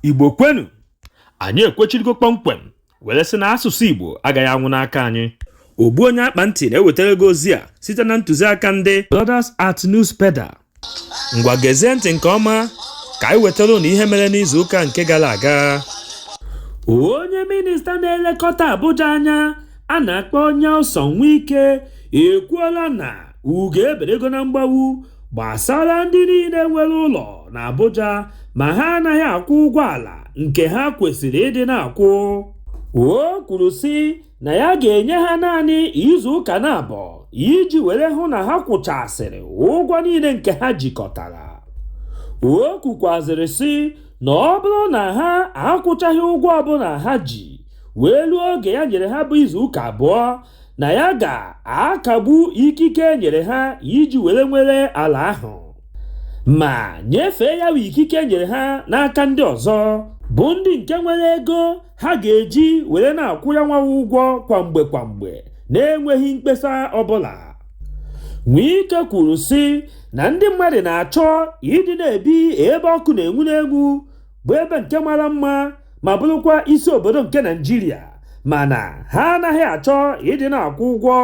igbo kwenu anyị ekwechirigo kpọmkwem were sị na asụsụ igbo agaghị anwụ n'aka anyị ogbu onye akpa ntị na-ewetara gị ozi a site na ntụziaka ndị Brothers at News Pedal ngwa gezie ntị nke ọma ka anyị wetara ụnụ ihe mere n'izu ụka nke gara aga onye minista na-elekọta Abuja anya a na-akpọ Nyesom Wike ekwuola na ugo eberego na mgbawu gbasara ndị niile nwere ụlọ na Abuja ma ha anaghị akwụ ụgwọ ala nke ha kwesịrị ịdị na-akwụ o kwuru sị na ya ga-enye ha naanị izu ụka naabọ iji were hụ na ha kwụchasịrị ụgwọ niile nke ha jikọtara o kwukwazịrị sị na ọ bụrụ na ha akwụchaghị ụgwọ ọbụla ha ji wee ruo oge ya nyere ha bụ izu ụka abụọ na ya ga-akagbu ikike e nyere ha iji were nwere ala ahụ ma nyefee ya bụ ikike e nyere ha n'aka ndị ọzọ bụ ndị nke nwere ego ha ga-eji were na-akwụ ya nwa ụgwọ kwa mgbe kwa mgbe na-enweghị mkpesa ọbụla Nwike kwuru sị na ndị mmadụ na-achọ ịdị na-ebi ebe ọkụ na-enwu n'enwu bụ ebe nke mara mma ma bụrụkwa isi obodo nke naijiria mana ha anaghị achọ ịdị na-akwụ ụgwọ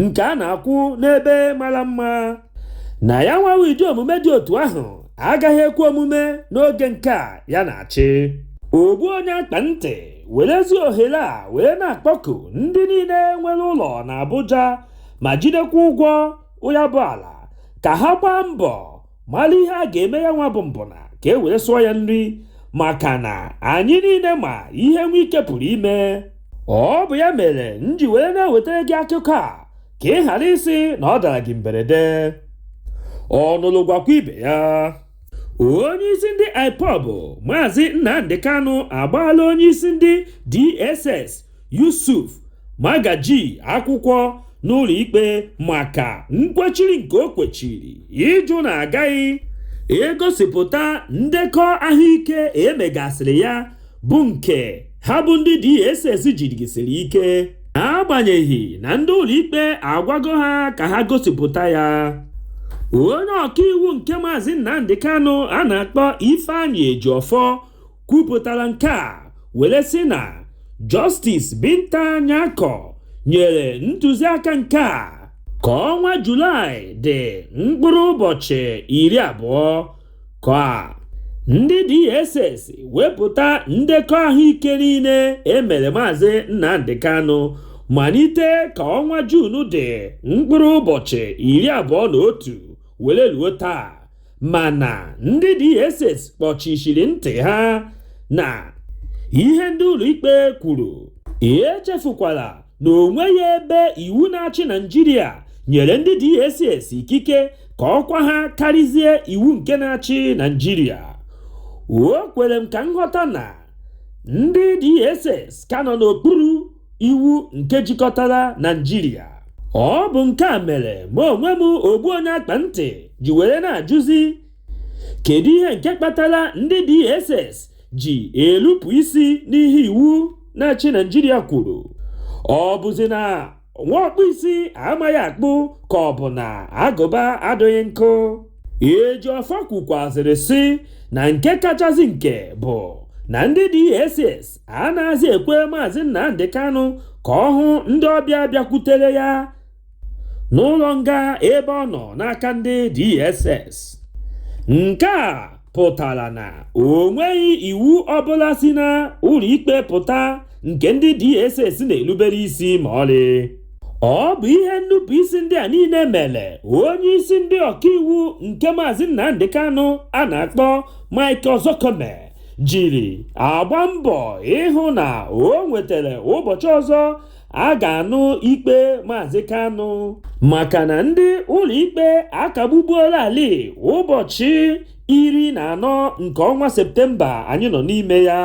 nke a na-akwụ n'ebe mara mma na ya nwawa ụdị omume dị otu ahụ agaghị ekwe omume n'oge nke a ya na-achị ogbu onye akpa ntị werezi ohere a wee na-akpọku ndị niile nwere ụlọ na Abuja ma jidekwa ụgwọ ya bụ ala ka ha gbaa mbọ mara ihe a ga-eme ya nwa bụ mbụna ka e were sụọ ya nri maka na anyị niile ma ihe nwike pụrụ ime ọ bụ ya mere m ji were na-ewetara gị akụkọ a ka ị ghara ịsị na ọ dara gị mberede ọ nụlụ gwakwa ibe ya onye isi ndị ipob maazị nnamdị kanụ agbaala onye isi ndị dss Yusuf Magaji akwụkwọ n'ụlọ ikpe maka nkwechiri nke o kwechiri ịjụ na agaghị egosipụta ndekọ ahụike e megasịrị ya bụ nke ha bụ ndị DSS jirigisiri ike agbanyeghị na ndị ụlọikpe agwago ha ka ha gosipụta ya onye ọkaiwu nke maazị Nnamdi Kanu a na-akpọ Ifeanyi Ejiofor kwupụtara nke a were sị na Justice Binta Nyako nyere ntụziaka nke a ka ọnwa Julaị dị mkpụrụ ụbọchị iri abụọ ka ndị DSS wepụta ndekọ ahụike niile emere maazị Nnamdi Kanu malite ka ọnwa Juun dị mkpụrụ ụbọchị iri abụọ na otu were ruo taa mana ndị DSS kpọchishiri ntị ha na ihe ndị ụlọikpe kwuru echefukwala na o nweghị ebe iwu na-achị Naịjirịa nyere ndị DSS ikike ka ọkwa ha karịzie iwu nke na-achị Naịjirịa o kwere m ka nghọta na ndị DSS ka nọ n'okpuru iwu nke jikọtara Naijiria ọ bụ nke a mere ma onwe m ogbu onye akpa ntị ji were na-ajụzi kedu ihe nke kpatara ndị DSS ji elupụ isi n'ihe iwu na-achị Naijiria kwuru ọ bụzi na nwa ọkpụ isi amaghị akpụ ka ọ bụ na agụba adịghị nkọ Ejiofor kwukwazịrị sị na nke kachasị nke bụ na ndị DSS anaghịzi ekwe maazị Nnamdi Kanu ka ọ hụ ndị ọbịa bịakwutere ya n'ụlọ nga ebe ọ nọ n'aka ndị DSS nke a pụtara na o nweghị iwu ọbụla si na ụlọikpe pụta nke ndị DSS na-erubere isi ma ọlị ọ bụ ihe nnupụisi ndị a niile mere onye isi ndị ọkaiwu nke maazị Nnamdi Kanu a na-akpọ Mike Ozekhome jiri agba mbọ ịhụ na o nwetara ụbọchị ọzọ a ga-anụ ikpe Maazị Kanu maka na ndị ụlọikpe akagbubuolarị ụbọchị iri na anọ nke ọnwa Septemba anyị nọ n'ime ya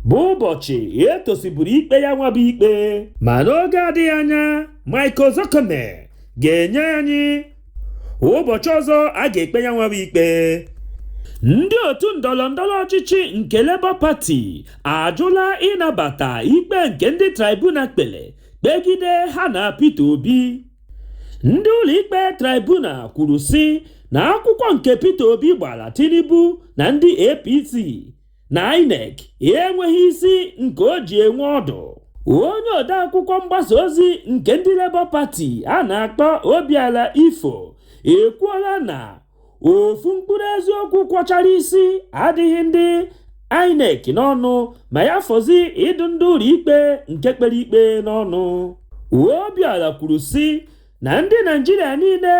bụ ụbọchị etosiburu ikpe ya nwa bụ ikpe ma n'oge adịghị anya Mike Ozekhome ga-enye anyị ụbọchị ọzọ a ga-ekpe ya nwa bụ ikpe ndị otu ndọrọ ndọrọ ọchịchị nke Labour Party ajụla ịnabata ikpe nke ndị tribunal kpere kpegide ha na Peter Obi ndị ụlọikpe tribunal kwuru sị na akwụkwọ nke Peter Obi gbara Tinubu na ndị APC na INEC enweghị isi nke o ji enwe ọdụ onye odeakwụkwọ mgbasa ozi nke ndị Labour Party a na-akpọ Obiora Ifoh ekwuola na ofu mkpụrụ eziokwu kwọchara isi adịghị ndị INEC n'ọnụ ma ya fọzi ịdụ ndị ụlọikpe nke kpere ikpe n'ọnụ Obiora kwuru sị na ndị naijiria niile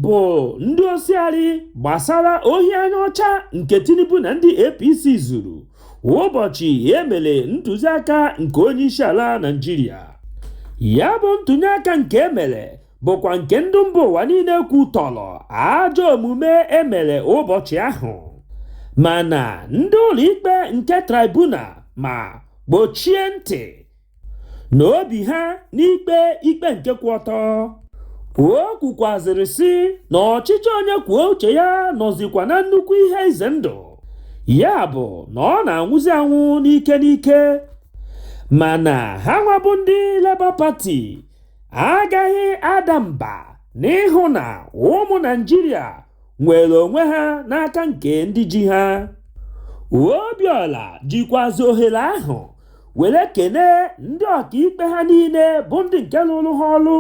bụ ndị osiari gbasara ohi anya ọcha nke tinubu na ndị apc zuru ụbọchị e mere ntụziaka nke onye isi ala naijiria ya bụ ntụnye aka nke e mere bụkwa nke ndị mba ụwa niile kwutọrọ ajọ omume e mere ụbọchị ahụ mana ndị ụlọikpe nke tribunal ma gbochie ntị na obi ha n'ikpe ikpe nke kwụ ọtọ o kwukwazịrị sị na ọchịchị onye kwuo uche ya nọzikwa na nnukwu ihe ize ndụ ya bụ na ọ na-anwụzi anwụ n'ike n'ike mana ha nwa bụ ndị Labour Party agaghị ada mba n'ịhụ na ụmụ Naịjirịa nwere onwe ha n'aka nke ndị ji ha Obiọla jikwazi ohere ahụ were kene ndị ọkaikpe ha niile bụ ndị nke lụrụ ha ọrụ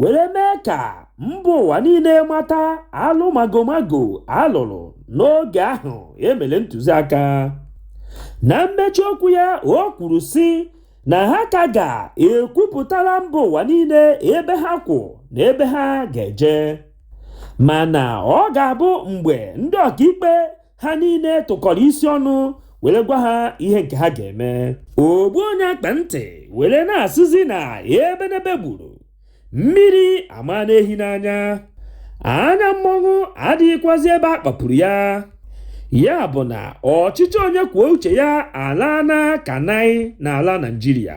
were mee ka mba ụwa niile mata alụ magomago a lụrụ n'oge ahụ e mere ntụziaka na mmechi okwu ya o kwuru sị na ha ka ga-ekwupụtara mba ụwa niile ebe ha kwụ na ebe ha ga-eje mana ọ ga-abụ mgbe ndị ọkaikpe ha niile tụkọrọ isi ọnụ were gwa ha ihe nke ha ga-eme ogbu onye akpa ntị were na-asịzi na ebenebe gburu mmiri amaana ehi n'anya anya mmọnwụ adịghịkwazi ebe a kpapuru ya ya bụ na ọchịchị onye kwuo uche ya alaana ka naị n'ala naijiria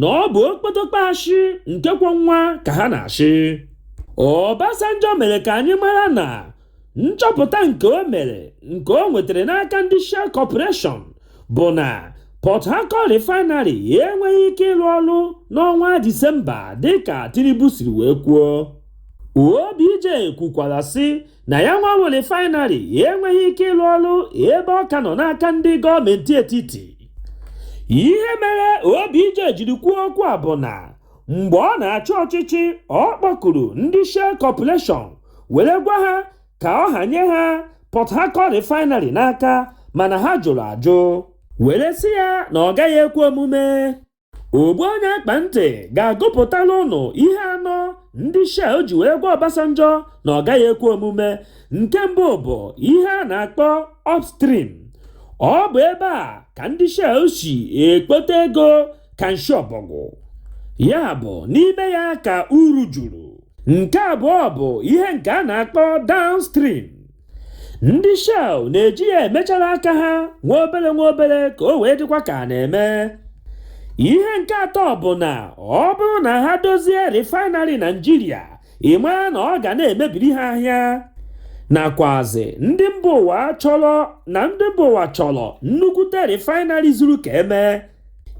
na ọ bụ okpotokpo ashị nke kwọ nwa ka ha na-ashị Obasanjo mere ka anyị mara na nchọpụta nke o mere nke o nwetara n'aka ndị Shell Corporation bụ na Port Harcourt Refinery enweghị ike ịrụ ọrụ n'ọnwa Disemba dịka Tinubu siri wee kwuo OBJ kwukwara sị na ya nwa bụ refinery enweghị ike ịlụ ọrụ ebe ọ ka nọ n'aka ndị gọọmenti etiti ihe mere obj jiri kwuo okwu a bụ na mgbe ọ na-achị ọchịchị ọ kpọkuru ndị shell corporation were gwa ha ka ọ hanye ha port harcourt refinery n'aka mana ha jụrụ ajụ were sị ya na ọ gaghị ekwe omume ogbu onye akpa ntị ga-agụpụtala ụnụ ihe anọ ndị Shell ji wee gwa Obasanjo na ọ gaghị ekwe omume nke mbụ bụ ihe a na-akpọ upstream ọ bụ ebe a ka ndị Shell si ekpote ego ka nshi ọbọgwụ ya bụ n'ime ya ka uru juru nke abụọ bụ ihe nke a na-akpọ downstream ndị shell na-eji ya emechara aka ha nwa obere nwa obere ka o wee dịkwa ka a na-eme ihe nke atọ bụ na ọ bụrụ na ha dozie refinery naịjirịa ị ma na ọ ga na-emebiri ha ahịa nakwazi ndị mba ụwa chọrọ na ndị mba ụwa chọrọ nnukwute refinery zuru ka e mee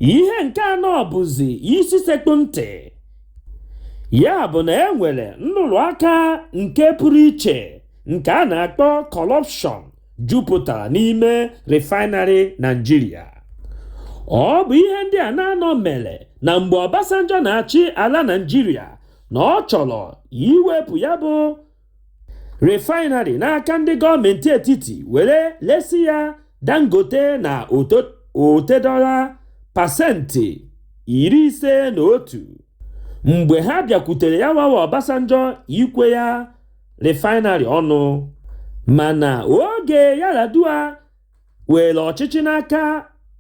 ihe nke anọ bụzi isi sekpụ ntị Ya bụ na e nwere nrụrụ aka nke pụrụ iche nke a na-akpọ kọrọpshọn jupụtara n'ime refaịnarị Naịjirịa. Ọ bụ ihe ndị a n'anọ mere na mgbe Obasanjo na-achị ala Naịjirịa na ọ chọrọ iwepụ ya bụ refaịnarị n'aka ndị gọọmenti etiti were lesi ya Dangote na Otedola pasentị iri ise na otu mgbe ha bịakwutere ya wawa Obasanjo ikwe ya refaịnarị ọnụ mana oge Yar'Adua weere ọchịchị n'aka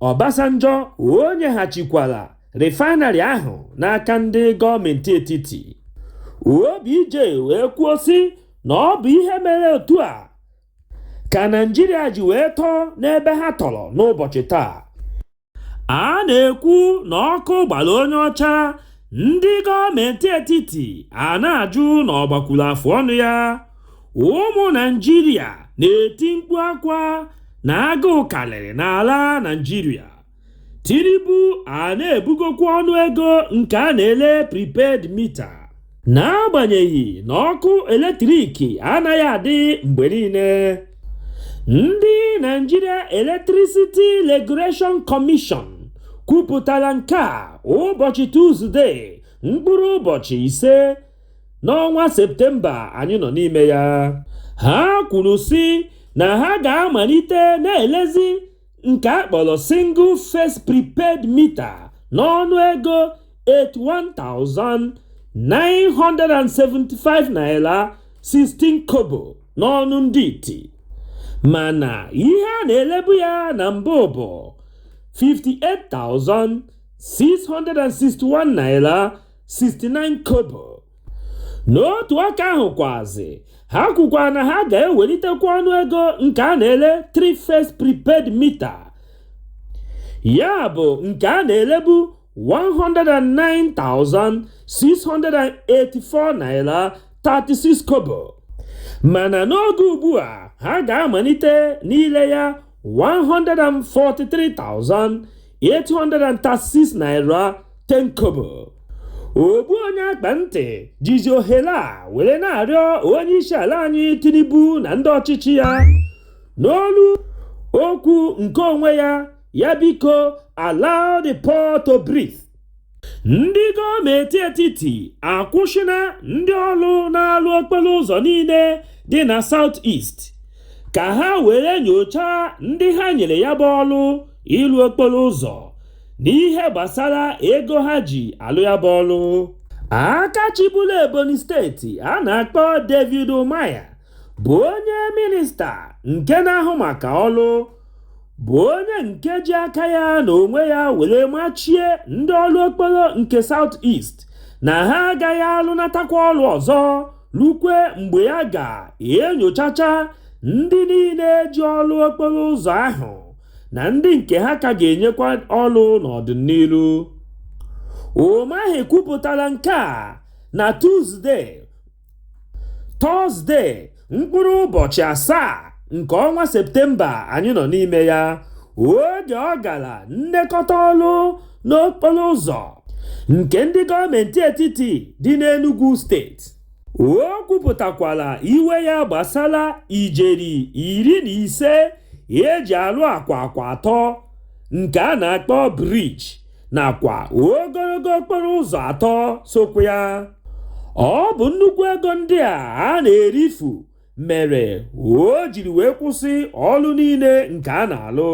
Obasanjo o nyeghachikwara refaịnarị ahụ n'aka ndị gọọmenti etiti OBJ wee kwuo sị na ọ bụ ihe mere otu a ka Naịjirịa ji wee tọọ n'ebe ha tọrọ n'ụbọchị taa a na-ekwu na ọkụ gbara onye ọcha ndị gọọmenti etiti a na-ajụ na ọ gbakwuru afụ ọnụ ya ụmụ naịjirịa na-eti mkpu akwa na agụụ karịrị n'ala naịjirịa tinubu a na-ebugokwa ọnụ ego nke a na-ele prepaid mita n'agbanyeghị na ọkụ eletrik anaghị adị mgbe niile ndị Nigeria Electricity Regulation Commission kwupụtara nke a ụbọchị Tuzdee mkpụrụ ụbọchị ise n'ọnwa Septemba anyị nọ n'ime ya ha kwuru sị na ha ga-amalite na-elezi nke a kpọrọ single phase prepaid meter n'ọnụ ego 81,975 naira 16 kobo n'ọnụ ndị iti mana ihe a na-elebu ya na mbụ bụ 58,661 naira 69 kobo n'otu aka ahụ kwazi ha kwukwa na ha ga-ewelitekwa ọnụ ego nke a na-ele three phase prepaid mita ya bụ nke a na-elebu 109,684 naira 36 kobo mana n'oge ugbu a ha ga-amalite n'ile ya 143,000 836 naira 10 kobo ogbu onye akpa ntị jizi ohere a were na-arịọ onye isi ala anyị tinubu na ndị ọchịchị ya n'olu okwu nke onwe ya ya biko allow the poor to breathe ndị gọọmenti etiti akwụsịna ndị ọrụ na-alụ okporo ụzọ niile dị na South East ka ha were nyochaa ndị ha nyere ya bụ ọrụ ịlụ okporo ụzọ n'ihe gbasara ego ha ji alụ ya bụ ọrụ aka chịburu Ebonyi steeti a na-akpọ David Umahi ya bụ onye minista nke na-ahụ maka ọrụ bụ onye nke ji aka ya n'onwe ya were machie ndị ọrụ okporo nke South East na ha agaghị alụnatakwa ọrụ ọzọ rukwe mgbe ya ga-enyochacha ndị niile ji ọrụ okporo ụzọ ahụ na ndị nke ha ka ga-enyekwa ọrụ n'ọdịnihu. Umahi kwupụtara nke a na Tuzde. tọzde mkpụrụ ụbọchị asaa nke ọnwa septemba anyị nọ n'ime ya oge ọ gara nlekọta ọrụ n'okporo ụzọ nke ndị gọọmenti etiti dị n'Enugu steeti o kwupụtakwara iwe ya gbasara ijeri iri na ise eji alụ akwa akwa atọ nke a na-akpọ briji nakwa ogologo okporo ụzọ atọ sokwa ya ọ bụ nnukwu ego ndị a a na-erifu mere o jiri wee kwụsị ọlụ niile nke a na-alụ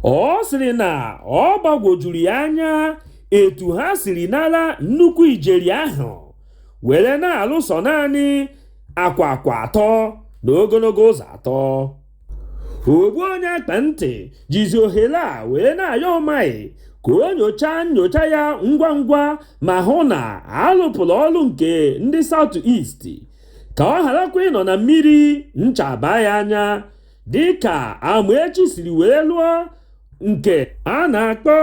ọ sịrị na ọ gbagwojuru ya anya etu ha siri nara nnukwu ijeri ahụ were na-alụ sọ naanị akwa akwa atọ na ogologo ụzọ atọ ogbu onye akpa ntị jizi ohere a wee na-ayọ Umahi ka o nyochaa nyocha ya ngwa ngwa ma hụ na a lụpụrụ ọrụ nke ndị South East ka ọ gharakwa ịnọ na mmiri ncha abaa ya anya dịka Amaechi siri wee lụọ nke a na-akpọ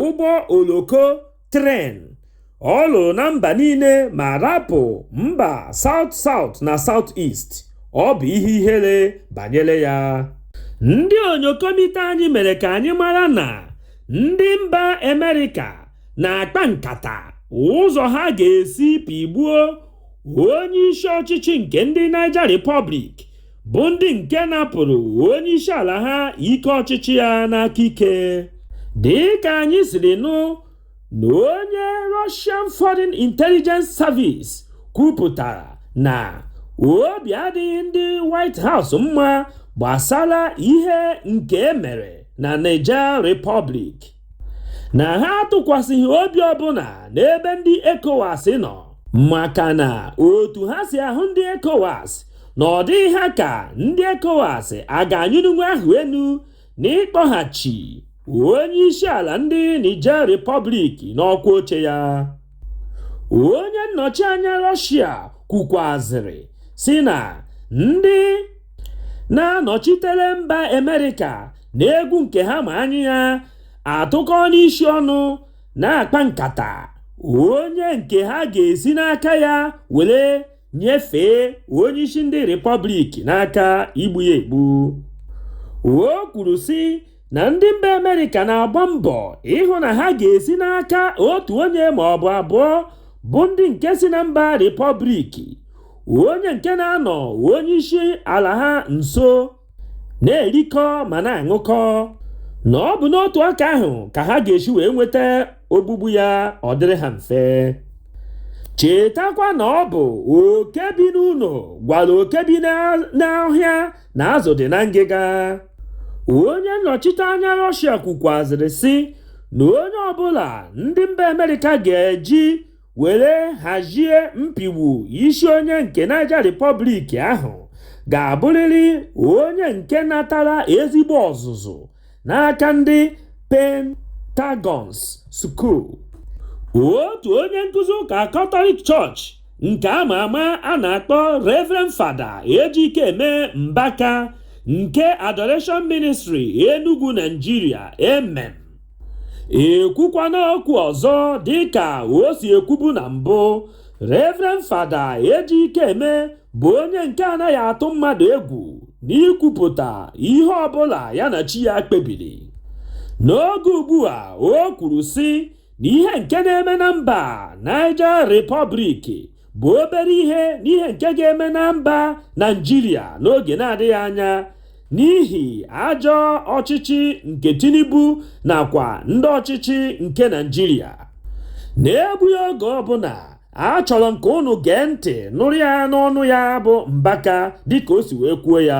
ụgbọ oloko tren ọ lụrụ na mba niile ma rapụ mba South South na South East ọ bụ ihe ihere banyere ya ndị onyokomite anyị mere ka anyị mara na ndị mba amerịka na-akpa nkata ụzọ ha ga-esi pịgbuo onye isi ọchịchị nke ndị Niger Republic bụ ndị nke napụrụ onye isi ala ha ike ọchịchị ya n'aka ike dị ka anyị siri nụ na onye Russian Foreign Intelligence Service kwupụtara na obi adịghị ndị White House mma gbasara ihe nke e mere na Niger Republic. na ha atụkwasịghị obi ọbụla n'ebe ndị ECOWAS nọ maka na otu ha si ahụ ndị ECOWAS na ọ dịghị ha ka ndị ECOWAS a ga-anyụnwu ahụ enu n'ịkpọghachi onye isi ala ndị Niger Republic n'ọkwa oche ya onye nnọchi anya Russia kwukwazịrị sị na ndị na-anọchitere mba Amerịka n'egwu nke ha ma anya ya atụkọọna isi ọnụ na-akpa nkata onye nke ha ga-esi n'aka ya were nyefee onye isi ndị Republic n'aka igbu ya egbu o kwuru sị na ndị mba amerịka na-agba mbọ ịhụ na ha ga-esi n'aka otu onye ma ọ bụ abụọ bụ ndị nke si na mba Republic onye nke na-anọ onye isi ala ha nso na-erikọ ma na-aṅụkọ na ọ bụ n'otu aka ahụ ka ha ga-esi wee nweta ogbugbu ya ọ dịrị ha mfe chetakwa na ọ bụ oke bi n'ụlọ gwara oke bi n'ọhịa na azụ dị na ngịga onye nnọchite anya Russia kwukwazịrị sị na onye ọbụla ndị mba amerịka ga-eji were hazie mpịgbu isi onye nke Niger Republic ahụ ga-abụrịrị onye nke natara ezigbo ọzụzụ n'aka ndị Pentagons School. Otu onye nkuzi ụka Catholic Church nke a ma ama a na-akpọ Reverend Father Ejikeme Mbaka nke Adoration Ministry Enugu Nigeria, AMEN. ekwukwana okwu ọzọ dịka o si ekwubu na mbụ Reverend Father Ejikeme bụ onye nke anaghị atụ mmadụ egwu n'ikwupụta ihe ọbụla ya na chi ya kpebiri n'oge ugbu a o kwuru sị na ihe nke na-eme na mba Niger Republic bụ obere ihe n'ihe nke ga-eme na mba Nigeria n'oge na-adịghị anya n'ihi ajọ ọchịchị nke Tinubu nakwa ndị ọchịchị nke Nigeria n'egbughị oge ọbụla achọrọ m ka unu gee ntị nụrụ ya n'ọnụ ya bụ Mbaka dịka o si wee kwuo ya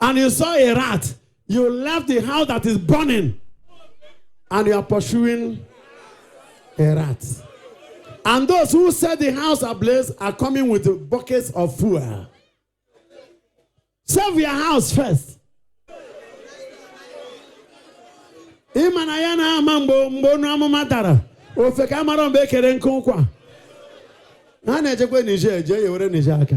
and you saw a rat, you left the house that is burning and you are pursuing a rat. And those who set the house ablaze are coming with buckets of fuel. Save your house first. Ị ma na ya na-ama mgbe mgbe onu amụma dara ofeke amarọ mgbe e kere nkụ ụkwa ha na-ejekwa Niger jee yewere Niger aka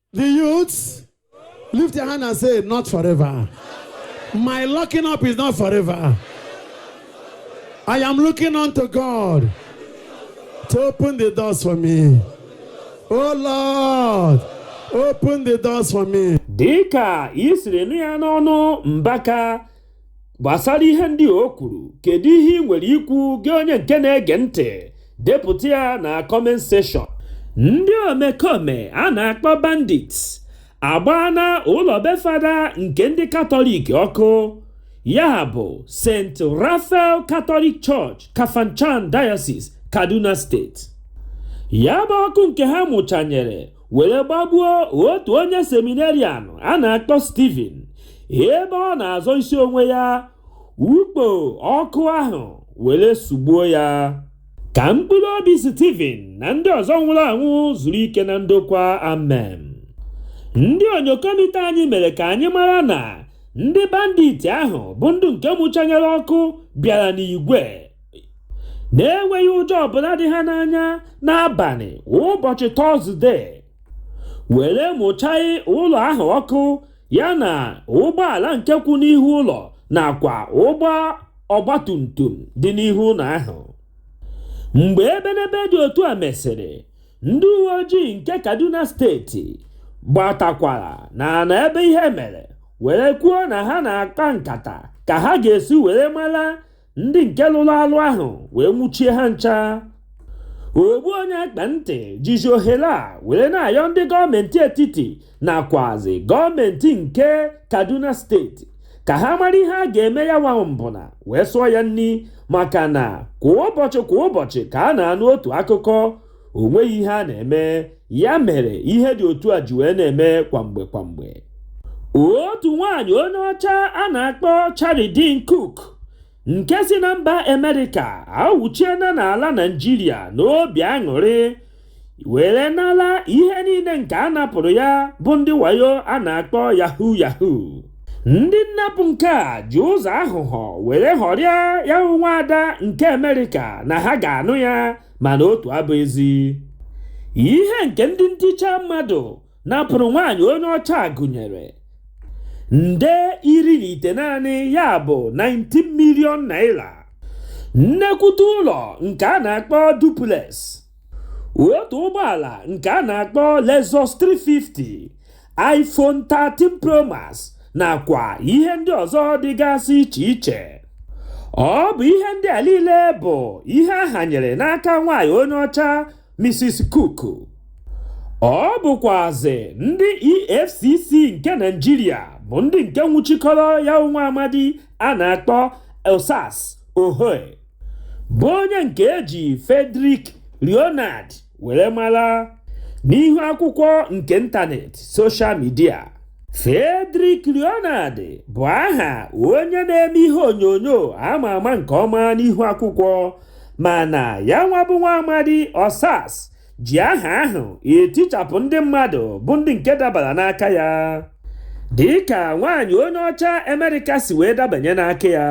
The youths, lift your hand and say, Not forever. My locking up is not forever. I am looking unto God to open the doors for me. Oh Lord, open the doors for me. dịka i siri nụ ya n'ọnụ mbaka gbasara ihe ndị o kwuru kedu ihe ị nwere ikwu gị onye nke na-ege ntị depụta ya na comment section ndị omekome a na-akpọ bandits agbaana ụlọ be fada nke ndị katọlik ọkụ ya bụ st raphael catholic church kafanchan diocese kaduna state ya bụ ọkụ nke ha mụchanyere were gbagbuo otu onye seminarian a na-akpọ Stephen ebe ọ na-azọ isi onwe ya ukpo ọkụ ahụ were sugbuo ya ka mkpụrụ obi Stephen na ndị ọzọ nwụrụ anwụ zuru ike na ndokwa amen ndị onyokomita anyị mere ka anyị mara na ndị bandit ahụ bụ ndị nke mụchanyere ọkụ bịara n'igwe na-enweghị ụjọ ọbụla dị ha n'anya n'abalị ụbọchị tọzde were mụchanye ụlọ ahụ ọkụ ya na ụgbọala nke kwụ n'ihu ụlọ nakwa ụgbọ ọgbatumtum dị n'ihu ụlọ ahụ mgbe ebenebe dị otu a mesịrị ndị uwe ojii nke kaduna steeti gbatakwara na na ebe ihe mere were kwuo na ha na-akpa nkata ka ha ga-esi were mara ndị nke lụrụ alụ ahụ wee nwụchie ha ncha ogbu onye akpa ntị jizi ohere a were na-ayọ ndị gọọmenti etiti nakwazi gọọmenti nke kaduna steeti ka ha mara ihe a ga-eme ya nwa mbụna wee sụọ ya nri maka na kwa ụbọchị kwa ụbọchị ka a na-anụ otu akụkọ o nweghị ihe a na-eme ya mere ihe dị otu a ji wee na-eme kwamgbe kwamgbe otu nwaanyị onye ọcha a na-akpọ Cheryldene Cook nke si na mba Amerịka awụchiena n'ala Naịjirịa n'obi aṅụrị were nala ihe niile nke a napụrụ ya bụ ndị wayo a na-akpọ yahoo yahoo ndị nnapụ nke a ji ụzọ aghụghọ were ghọrịa ya nwa ada nke Amerịka na ha ga-anụ ya mana otu abụghị ezi ihe nke ndị nticha mmadụ napụrụ nwaanyị onye ọcha gụnyere nde iri na itenaanị ya bụ 19 million naira nnekwute ụlọ nke a na-akpọ duplex otu ụgbọala nke a na-akpọ Lexus 350 iPhone 13 Pro Max nakwa ihe ndị ọzọ dịgasị iche iche ọ bụ ihe ndị a niile bụ ihe a hanyere n'aka nwaanyị onye ọcha Mrs. Cook ọ bụkwazị ndị EFCC nke Naịjirịa bụ ndị nke nwụchikọrọ ya nwa amadi a na-akpọ Osas Ohue bụ onye nke e ji Frederick Leonard were mara n'ihu akwụkwọ nke ịntanetị soshal midia Frederick Leonard bụ aha onye na-eme ihe onyonyo ama ama nke ọma n'ihu akwụkwọ mana ya nwa bụ nwa amadi Osas ji aha ahụ etichapụ ndị mmadụ bụ ndị nke dabara n'aka ya dịka nwaanyị onye ọcha Amerịka si wee dabanye n'aka ya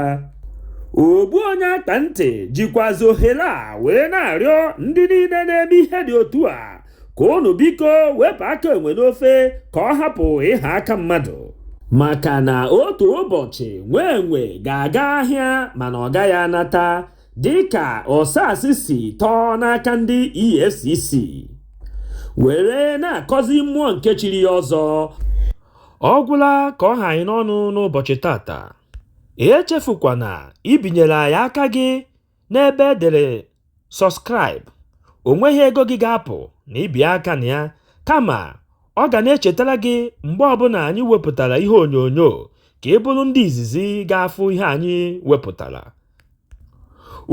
ogbu onye akpa ntị jikwazi ohere a wee na-arịọ ndị niile na-eme ihe dị otu a ka unu biko wepụ aka enwe n'ofe ka ọ hapụ ịha aka mmadụ maka na otu ụbọchị nwa enwe ga-aga ahịa mana ọ gaghị anata dịka Osas si tọọ n'aka ndị EFCC were na-akọzi mmụọ nke chiri ya ọzọ ọ gwụla ka ọ ha anyị n'ọnụ n'ụbọchị tata echefukwana ibinyere anyị aka gị n'ebe e dere subscribe o nweghị ego gị ga-apụ na ibi aka na ya kama ọ ga na-echetara gị mgbe ọbụla anyị wepụtara ihe onyonyo ka ị bụrụ ndị izizi ga-afụ ihe anyị wepụtara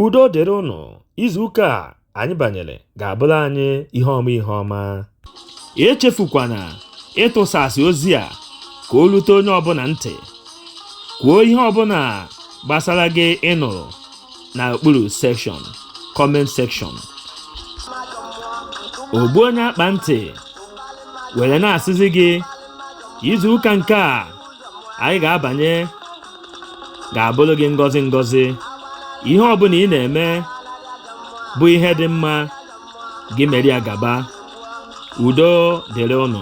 udo dịrị ụnụ izu ụka a anyị banyere ga-abụrụ anyị ihe ọma ihe ọma echefukwana ịtụsasị ozi a ka o rute onye ọbụla ntị kwuo ihe ọbụla gbasara gị ị nụrụ na okpuru section comment section ogbu onye akpa ntị were na-asịzi gị izu ụka nke a anyị ga-abanye ga-abụrụ gị ngọzi ngọzi ihe ọbụla ị na-eme bụ ihe dị mma gị mere ya gaba udo dịrị ụnụ